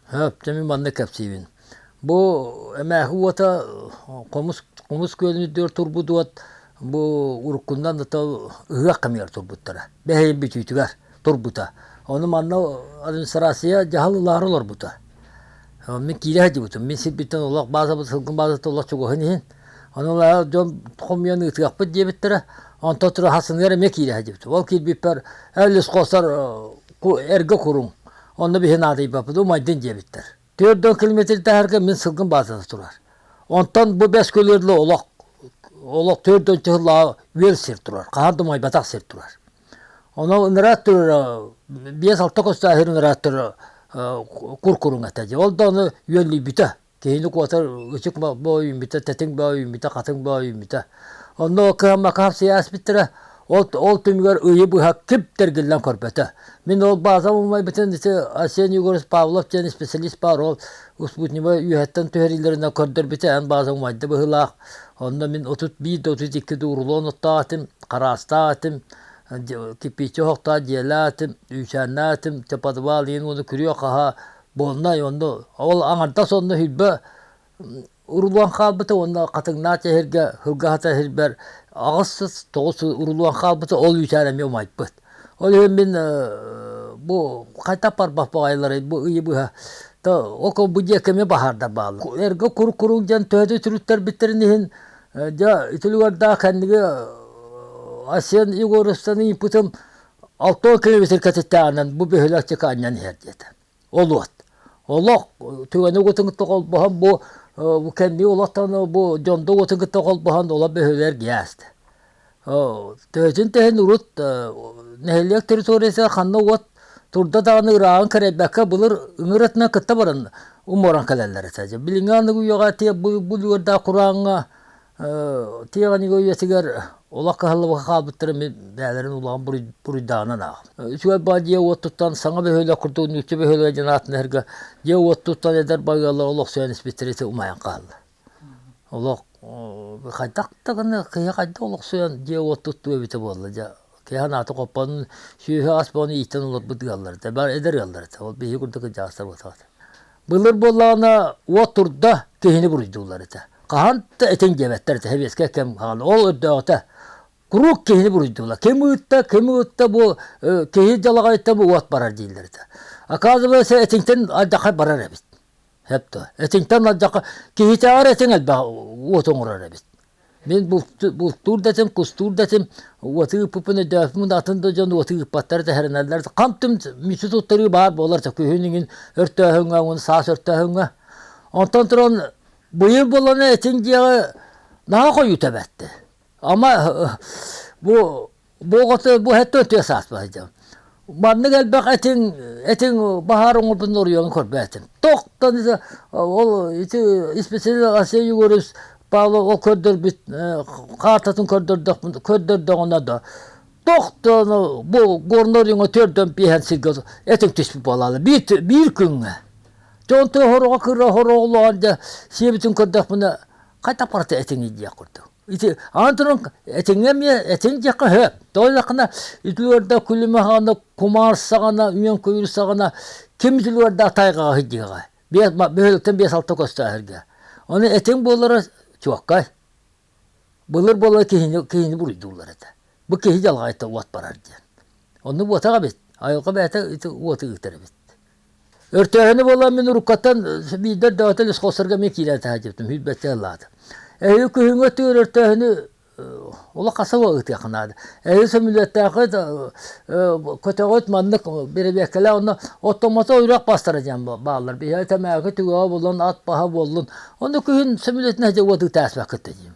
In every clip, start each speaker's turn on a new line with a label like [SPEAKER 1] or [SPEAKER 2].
[SPEAKER 1] Чэ, мин маннык кэпсиибин. Бу эмээхи уота хомус хомус күөлүн үрдүгэр турбут уот бу уруккунан ата ыһыах кэмигэр турбуттара. Бэһэйин бүтүүтүгэр турбута. Ону манна администрация дьаһал ылаары олорбута. Мин киирэ сылдьыбытым. Мин сирбиттэн олох баазабыт сылгым баазата олох чугаһын иһин. Ону ылаары дьон хомуйан ыытыахпыт диэбиттэрэ. Онтон тураһасыныгар эмиэ киирэ сылдьыбытым. Ол киирбиппэр «Эл ис хоһсар эргэ куруҥ Онно биһи наадыйбаппыт, умайдын диэбиттэр. Түөрт уон километр таһарга мин сылгым баазата турар. Онтон бу бэс көлүөрүлэ олох олох төрт өлчө сыллааҕы үөл сир турар, хаһан да умайбатах сир турар. Онон ыныраттыр биэс-алта костааһыр ыныраттыр куркуруҥ этэ дии. Ол да ону үөллүйбүтэ. Киһилик уотар ытык боо үүммүтэ, тэтиҥ боо үүммүтэ, хатыҥ боо үүммүтэ. Онно кыһаммакаһап сийээспиттэрэ ол ол түмүгэр ыйы быһа ким тэргиллэн көрбөтө. Мин ол баазам умайбытын ити Арсений Егорович Павлов диэн исписэлиис баар ол Успутневай үөһэттэн түһэриилэринэн көрдөрбүтэ эн бааза умайда быһыылаах. Онно мин отут биир да отут икки да урулуон оттоотум, хараастаатым, кирпиччи оһохтоот дьиэлээтим, үүсээннээтим, те подвал иһин уону күрүө-хаһаа буолнай онно ол аҥардас онно хилбэ урулуон хаалбыта уонна хатыҥнаах эһэргэ һылгаһата иһирбэр аҕыс тоҕус урулуон хаалбыта ол үүтээн эмиэ умайбыт ол иһин мин бу хайдах барбах баҕайыларый бу ыйы быһа то око бу диэкэми баһаардар бааллар эргэ курук курук диэн төһөтө түрүттэрбиттэрин иһин дьэ итилигэрдээх кэнниги Асен Егоровтан ыйыппытым Алтыал киһи битиркэтиттээҕинэн бу бөһүлэктик анньан иһэр диэтэ. Ол уот. Олох түгэни утунгутта холбоһон бу бу кэмнии олохтон бу дьонду утунгутта холбоһон ола бөһүлэр гиээсте. Төһөтүн тэһин урут нэһилиэк территориясыгар ханна уот турда даҕаны ырааҕын кэрэйбэккэ былыр ыҥырытынан кытта баран уморан кэлэллэр этэ. Билиҥҥи аныгы үйэҕэ тиэ бу бу лүөрдээх курааҥҥа Тыаҕа үйэтигэр олох кыһаллыбакка хаалбыттарын мин бэйэлэрин улахан буруйдааҕынан аахпыт. Үчүгэй баҕа дьиэ уот туттан саҥа бөһүөлэк курдук нуучча бөһүөлэгин дьон аатын эһэргэ дьиэ уот туттан эдэр байыаллар олохсуйан испиттэрэ ити умайан хаалла. Олох хайдах даҕаны киһи хайдах олохсуйан дьиэ уот туттуо эбитэ буолла дьэ киһи санаата хоппон сүөһү ас буолан ииттэн олорбут ыаллар этэ бары эдэр ыаллар этэ ол биһиги курдук кырдьаҕастар буолбатах этэ. Былыр буоллаҕына уот турда, киһини буруйдууллар этэ. Хаһан да этин диэбэттэр этэ сэбиэскэй кэм хаана. Ол өрдөөҕүтэ куруук киһини буруйдууллар. Ким ыытта, ким ыытта бу киһи далаҕайыттан бу уот барар дииллэр этэ. Оказывается, этиҥтэн алдьархай барар эбит. Сөп дуо? Этиҥтэн алдьархай киһитээҕэр этиҥ элбэх уот оҥорор эбит. Мин бултуур да этим, кустуур да этим, уоту ыыппыппын өйдөөбөппүн да атын да дьон уоту ыыппаттара тэһэринэллэр. Хантым мүчү туттарыы баар буолар да күһүн иҥин өртөөһүҥҥэ уҥун саас өртөөһүҥҥэ. Онтон туран быйыл буоллана этиҥ диэҕи наһаа хойуу тэбэттэ. Ама бу Бу оҕото бу өттө тыа сааспа сылдьабын. Маннык элбэх этиҥ, этиҥ баһаар оҥорбутун уруйан көрбөөтүм. Тохтан ise ол ити испециализация югорус Павлов ол көрдөрбүт картатын көрдөрдөхпүнэ көрдөрдөҕүнэ да тохтон бу горнай уруйуҥа төрдөн биэһэн сиргэ этиҥ түспүт буолаалы биир биир күҥҥэ. Дьэ онтон сороҕо кыра сороҕолоон дьэ сиэбитин көрдөхпүнэ хайдах барыта этиҥий диэх курдук. Ити аан туран этиҥҥэ эмиэ этиҥ диэххэ сөп. Тоҕо диэххинэ ити уорда күлүмэ хаана кумаар саҕана үйэн күyүр саҕана ким ити уорда тайҕаҕа сыдьыаҕа биэс бөһүөлэктэн биэс-алта көстөөһөргө. Ону этиҥ буоллара чуоккай. Былыр буолар киһини киһини буруйдууллар этэ. Бу киһи дьалаҕайта уот барар диэн. Онну буотаҕа эбит. Айылҕа бэйэтэ ити уоту ыытар эбит. Өртөөһүнү буолан мин уруккаттан биирдэр даҕатан исхосарга мен киирэн таһаадьыптым үүрбэттэ ыллаата. Эһи күһүҥҥү тыыр өртөөһүнү олох хасыла ыытыах наада. Эһи сөмүлүөттээхи көтөҕүт маннык бэрэбиэккэлээх онно оттомото үрэх бастара диэн бааллар. Биһиэхэ тэмээки түгэҕэ булан ат баһа буоллун. Ону күһүн сөмүлүөтүн эдэ уот ытаасбаккыт диим.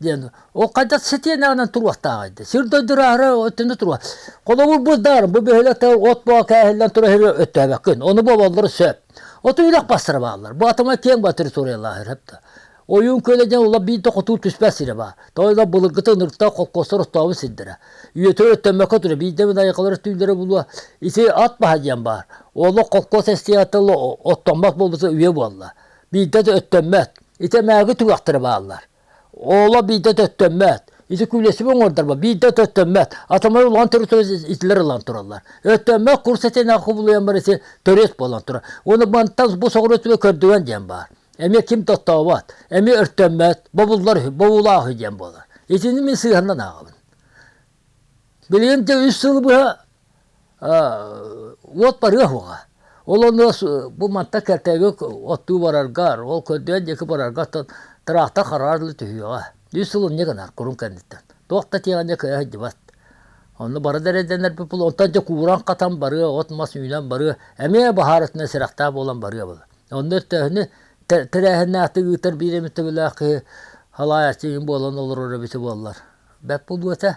[SPEAKER 1] диэн ол хайдах сэтиэнэҕинэн туруохтааҕый дии сир дойдураары өттүнэ туруо холобур бырдаар бу бөһүөлэкте от боо кээһиллэн тура иһэрэ өттөөбөккүн ону буолаллара сөп оту үрэх бастара бааллар бу атамай киэҥ баа территориялаах иһэр да ойуун күөлэ диэн ула биир да хотуу түспэт сирэ баар тоойлор былыргыта ынырыктаах холкуостар оттообут сирдэрэ үйөтөр өттөммөккө тура биир да айқалар түүллэрэ булуо ити ат баһа диэн баар олох холкуос эстиатыл оттоммот буолбута үйэ буолла биирдэ да өттөммөт Итэмээги түгэхтэрэ бааллар. Ооло биирдэ төттөммөт. Ити күлэсиби оҥордорбо биирдэ төттөммөт. Атомой улахан территория итилер ылан тураллар. Өттөммөт курс этинэҕэ кубулуйан барыси төрүөт буолан турар. Уну бантан бу соҕуруу түбө көрдүгэн диэн баар. Эми ким тоттообот, эми өртөммөт, бобуллар үһү, бобуулаах үһү диэн буолар. Итини мин сыһыаннан ааҕабын. Билигин де үс сыл быһа уот барыа суоҕа. Ол онно бу мантан кэккэгэ оттуу бараргар, ол көрдөөн диэки барарга оттон тыраахта хараар элэ түһүөҕэ. Үс сыл мунньа гынар курун кэнниттэн. Туох да тиэҕиннэ кыайа сылдьыбат. Онно бары да эрэйдэнэрбит буолуо. Онтон дьэ кууран-хатан барыа, от-мас үүнэн барыа, эмиэ баһаарытынан сэрэхтээх буолан барыа буолар. Онно өртөөһүнү тэрээһиннээхтик ыытар биир эмит төгүллээх киһи халаайаччы буолан олороро эбитэ буоллар. Бэрт буолуо этэ.